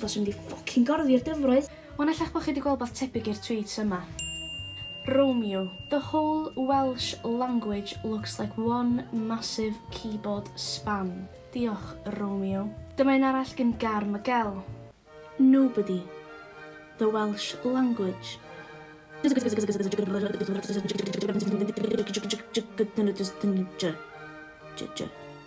Baswn i 'di ffocin gorddi'r dyfroedd! Wan ella'ch bod chi 'di gweld wbath tebyg i'r tweets yma. Romeo, the whole Welsh language looks like one massive keyboard spam. Diolch, Romeo. Dyma un arall gin Gar Miguel. Nobody. The Welsh language.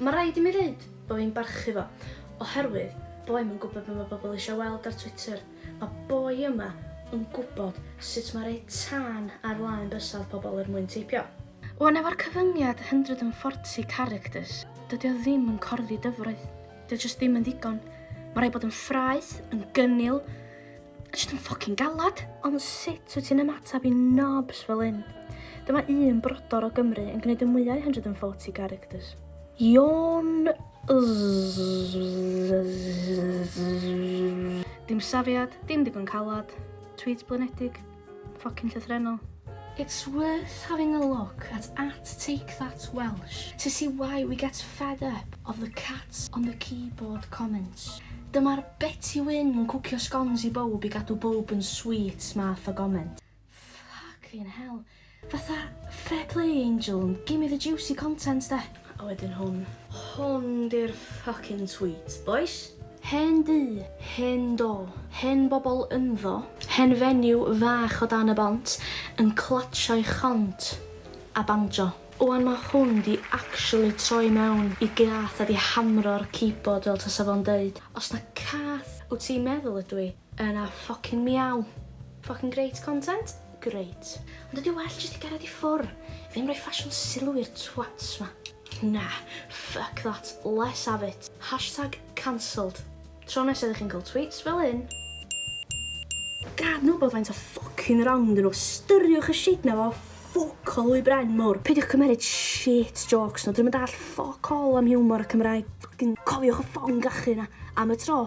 Mae rhaid i mi ddeud bod fi'n barchu fo, oherwydd bo i'm yn gwybod be mae pobl eisiau weld ar Twitter. Mae boi yma yn gwybod sut mae rhoi tân ar flaen bysedd pobl er mwyn teipio. Wan efo'r cyfyngiad 140 characters, dydy o ddim yn corddi dyfroedd. Dydy o jyst ddim yn ddigon. Mae rhaid bod yn ffraeth, yn gynnil, Just yn ffocin galad. Ond sut wyt ti'n ymateb i nobs fel un? Dyma un brodor o Gymru yn gwneud y mwyau 140 characters. Ion... Dim safiad, dim digon calad, tweets blinedig. Ffocin llythrennol. It's worth having a look at at take that Welsh to see why we get fed up of the cats on the keyboard comments. Dyma'r Betty Wyn yn cwcio scones i bowb i gadw bowb yn sweet math o goment. Ffocin hell. Fatha fair play Angel, gimme the juicy content de! A wedyn hwn. Hwn di'r ffycin sweet, bois! Hen dŷ, hen do, hen bobl ynddo. Hen fenyw fach o dan y bont yn clatsio ei chont a banjo. Wan ma hwn di actually troi mewn i gath a di hamro'r keyboard fel tasa fo'n deud, Os na cath wt ti'n meddwl ydw i, Yna ffocin miaw. Ffocin grêt content, grêt. Ond ydi o well jyst i gared i ffwr? Ddim rhoi ffasiwn sylw i'r twats ma. Na, fuck that, less have it. Hashtag cancelled. Tro nesa ydych chi'n cael tweets fel hyn. Gad nhw bod faint o ffocin wrong ydyn nhw, styriwch y shit na fo, ffwc o lwy bren mowr. Peidiwch cymeryd shit jôcs nhw, dyn nhw'm yn dallt ffwc all am hiwmor y Cymraeg. Ffocin cofiwch y ffon gachu na, am y tro.